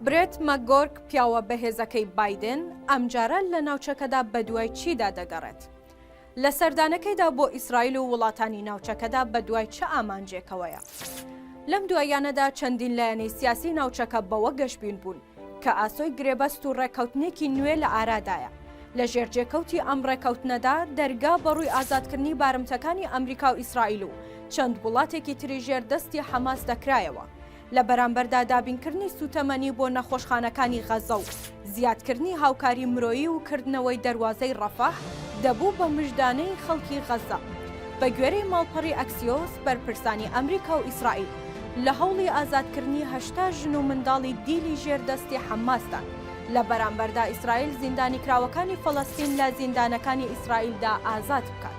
برێت مەکگۆرک پیاوە بەهێزەکەی بایدن ئەمجارە لە ناوچەکەدا بەدوای چیدا دەگەڕێت؟ لە سەردانەکەیدا بۆ ئیسرائیل و وڵاتانی ناوچەکەدا بەدوای چ ئامانجێکەوەیە؟ لەم دواییانەدا چەندین لایەنی سیاسی ناوچەکە بەوە گەشبین بوون کە ئاسۆی گرێبەست و ڕێککەوتنێکی نوێ لە ئارادایە، لە ژێرجێکەوتی ئەم ڕێککەوتنەدا دەرگا بەڕووی ئازادکردنی بارمتەکانی ئەمریکا و ئیسرائیل و چەند وڵاتێکی تری ژێر دەستی حەماس دەکرایەوە. لە بەرامبەردا دابینکردنی سووتەمەنی بۆ نەخۆشخانەکانی غەززە و زیادکردنی هاوکاری مرۆیی و کردنەوەی دەروازەی ڕەفەح دەبوو بە مژدانەی خەڵکی غەززە. بەگوێرەی ماڵپەڕی ئەکسیۆس، بەرپرسانی ئەمریکا و ئیسرائیل لە هەوڵی ئازادکردنی هەشتا ژن و منداڵی دیلی ژێر دەستی حەمماسدان، لە بەرامبەردا ئیسرائیل زیندانیکراوەکانی فەلەستین لە زیندانەکانی ئیسرائیلدا ئازاد بکات.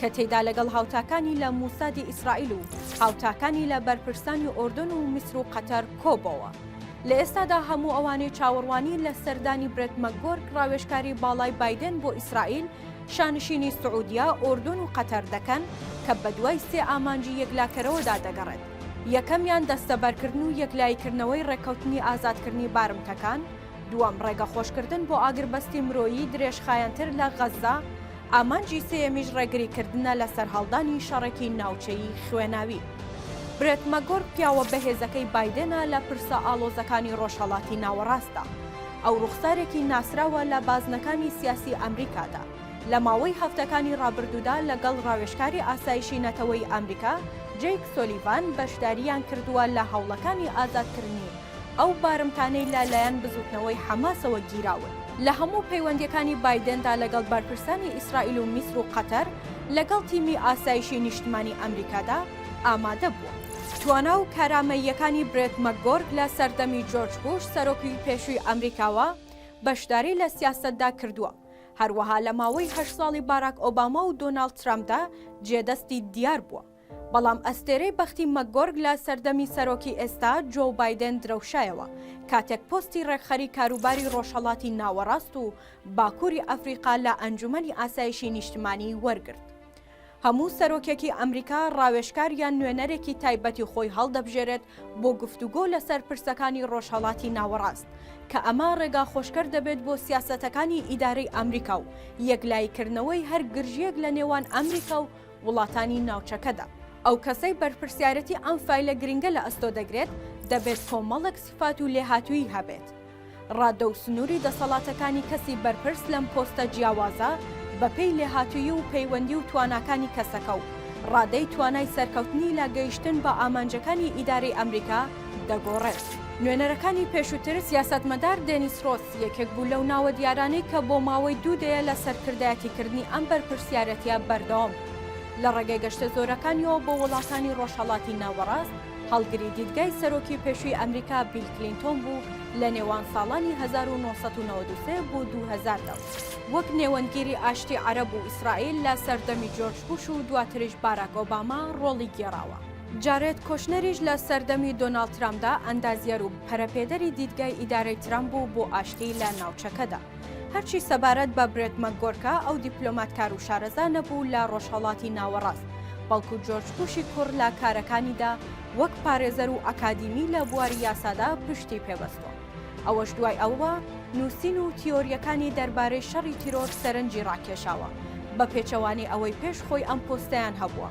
کە تێیدا لەگەڵ هاوتاکانی لە موسادی ئیسرائیل و هاوتاکانی لە بەرپرسانی ئۆردۆن و میسر و قەتەر کۆبۆوە. لە ئێستادا هەموو ئەوانەی چاوەڕوانی لە سەردانی برێت مەکگۆرک ڕاوێژکاری باڵای بایدێن بۆ ئیسرائیل، شانشینی سعودیە، ئۆردۆن و قەتەر دەکەن کە بەدوای سێ ئامانجی یەکلاکەرەوەدا دەگەڕێت، یەکەمیان دەستەبەرکردن و یەکلاییکردنەوەی ڕێککەوتنی ئازادکردنی بارمتەکان، دووەم ڕێگەخۆشکردن بۆ ئاگربەستی مرۆیی درێژخایەنتر لە غەززە، ئامانجی سێیەمیش ڕێگریکردنە لە سەرهەڵدانی شەڕێکی ناوچەیی خوێناوی. برێت مەگۆرک پیاوە بەهێزەکەی بایدێنە لە پرسە ئاڵۆزەکانی ڕۆژهەڵاتی ناوەڕاستدا. ئەو ڕوخسارێکی ناسراوە لە بازنەکانی سیاسی ئەمریکادا. لە ماوەی هەفتەکانی ڕابردوودا لەگەڵ ڕاوێژکاری ئاسایشی نەتەوەیی ئەمریکا جەیک سۆلیڤان بەشدارییان کردووە لە هەوڵەکانی ئازادکرنی ئەو بارمتانەی لە لایەن بزووتنەوەی حەماسەوە گیراون. لە هەموو پەیوەندییەکانی بایدێندا لەگەڵ بەرپرسانی ئیسرائیل و میسر و قەتەر، لەگەڵ تیمی ئاسایشی نیشتمانی ئەمریکادا ئامادە بووە. توانا و کارامەییەکانی برێت مەکگۆرک لە سەردەمی جۆرج بوش سەرۆکی پێشووی ئەمریکاوە بەشداری لە سیاسەتدا کردووە، هەروەها لە ماوەی هەشت ساڵی باراک ئۆباما و دۆناڵد ترەمپدا جێدەستی دیار بووە. بەڵام ئەستێرەی بەختی مەکگۆرگ لە سەردەمی سەرۆکی ئێستا جۆو بایدێن درەوشایەوە کاتێک پۆستی ڕێکخەری کاروباری ڕۆژهەڵاتی ناوەڕاست و باکووری ئەفریقا لە ئەنجومەنی ئاسایشی نیشتمانی وەرگرت. هەموو سەرۆکێکی ئەمریکا ڕاوێژکار یان نوێنەرێکی تایبەتی خۆی هەڵدەبژێرێت بۆ گفتوگۆ لەسەر پرسەکانی ڕۆژهەڵاتی ناوەڕاست کە ئەمە ڕێگا خۆشکەر دەبێت بۆ سیاسەتەکانی ئیدارەی ئەمریکا و یەکلاییکردنەوەی هەر گرژییەک لە نێوان ئەمریکا و وڵاتانی ناوچەکەدا. ئەو کەسەی بەرپرسیارەتی ئەم فایلە گرنگە لە ئەستۆ دەگرێت، دەبێت کۆمەڵێک سیفات و لێهاتوویی هەبێت. ڕادە و سنووری دەسەڵاتەکانی کەسی بەرپرس لەم پۆستە جیاوازە بەپێی لێهاتوویی و پەیوەندی و تواناکانی کەسەکە و ڕادەی توانای سەرکەوتنی لە گەیشتن بە ئامانجەکانی ئیدارەی ئەمریکا دەگۆڕێت. نوێنەرەکانی پێشووتر سیاسەتمەدار دێنیس ڕۆس یەکێک بوو لەو ناوە دیارانەی کە بۆ ماوەی دوو دەیە لە سەرکردایەتیکردنی ئەم بەرپرسیارەتییە بەردەوام بوو. لە ڕێگەی گەشتە زۆرەکانیەوە بۆ وڵاتانی ڕۆژهەڵاتی ناوەڕاست، هەڵگری دیدگای سەرۆکی پێشووی ئەمریکا بیل کلینتۆن بوو لە نێوان ساڵانی هەزار و نۆ سەد و نەوەد و سێ بۆ دوو هەزار دا و وەک نێوەندگیری ئاشتی عەرەب و ئیسرائیل لە سەردەمی جۆرج بوش و دواتریش باراک ئۆباما ڕۆڵی گێڕاوە. جارێد کۆشنەریش لە سەردەمی دۆناڵد ترامپدا ئەندازیەر و پەرەپێدەری دیدگای ئیدارەی ترامپ بوو بۆ ئاشتی لە ناوچەکەدا. هەرچی سەبارەت بە برێت مەکگۆرکە، ئەو دیپلۆماتکار و شارەزا نەبوو لە ڕۆژهەڵاتی ناوەڕاست، بەڵکو جۆرج بوشی کوڕ لە کارەکانیدا وەک پارێزەر و ئەکادیمی لە بواری یاسادا پشتی پێبەستووە. ئەوەش دوای ئەوە نووسین و تیۆرییەکانی دەربارەی شەڕی تیرۆر سەرنجی ڕاکێشاوە، بەپێچەوانەی ئەوەی پێش خۆی ئەم پۆستەیان هەبووە.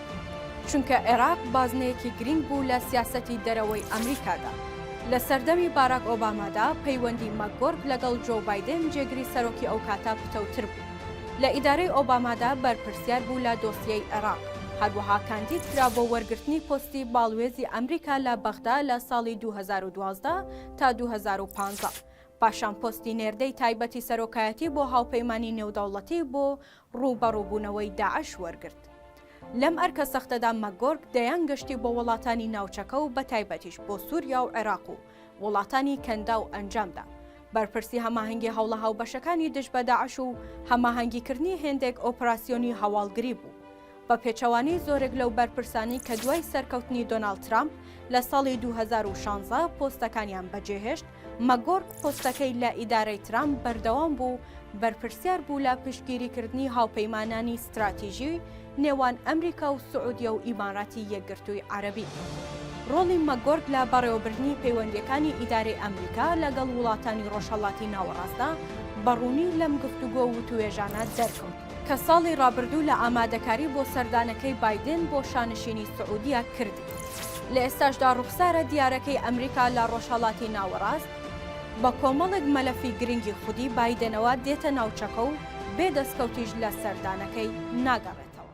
چونکە عێراق بازنەیەکی گرینگ بوو لە سیاسەتی دەرەوەی ئەمریکادا. لە سەردەمی باراک ئۆبامادا پەیوەندی مەکگۆرک لەگەڵ جۆو بایدێن جێگری سەرۆکی ئەوکاتە پتەوتر بوو. لە ئیدارەی ئۆبامادا بەرپرسیار بوو لە دۆسیەی عێراق. هەروەها کاندید کرا بۆ وەرگرتنی پۆستی باڵوێزی ئەمریکا لە بەغدا لە ساڵی دوو هەزار و دوازدە تا دوو هەزار و پازدە. پاشان پۆستی نێردەی تایبەتی سەرۆکایەتی بۆ هاوپەیمانی نێودەوڵەتی بۆ ڕووبەڕووبوونەوەی داعش وەرگرت. لەم ئەرکە سەختەدا مەکگۆرک دەیان گەشتی بۆ وڵاتانی ناوچەکە و بەتایبەتیش بۆ سووریا و عێراق و وڵاتانی کەنداو ئەنجامدا. بەرپرسی هەماهەنگی هەوڵە هاوبەشەکانی دژ بە داعش و هەماهەنگیکردنی هێندێک ئۆپراسیۆنی هەواڵگری بوو. بە پێچەوانەی زۆرێک لەو بەرپرسانەی کە دوای سەرکەوتنی دۆناڵد ترامپ لە ساڵی دوو هەزار و شانزە پۆستەکانیان بەجێهێشت، مەکگۆرک پۆستەکەی لە ئیدارەی ترامپ بەردەوام بوو و بەرپرسیار بوو لە پشتگیریکردنی هاوپەیمانانی ستراتیژیی نێوان ئەمریکا و سعودیە و ئیماراتی یەکگرتووی عەرەبی. ڕۆڵی مەکگۆرک لە بەڕێوەبردنی پەیوەندییەکانی ئیدارەی ئەمریکا لەگەڵ وڵاتانی ڕۆژهەڵاتی ناوەڕاستدا بە ڕوونی لەم گفتوگۆ و وتووێژانە دەرکەوت. کە ساڵی ڕابردوو لە ئامادەکاری بۆ سەردانەکەی بایدن بۆ شانشینی سعودیە کردی. لە ئێستاشدا ڕوخسارە دیارەکەی ئەمریکا لە ڕۆژهەڵاتی ناوەڕاست بە کۆمەڵێک مەلەفی گرنگی خودی بایدنەوە دێتە ناوچەکە و بێ دەستکەوتیش لە سەردانەکەی ناگەڕێتەوە.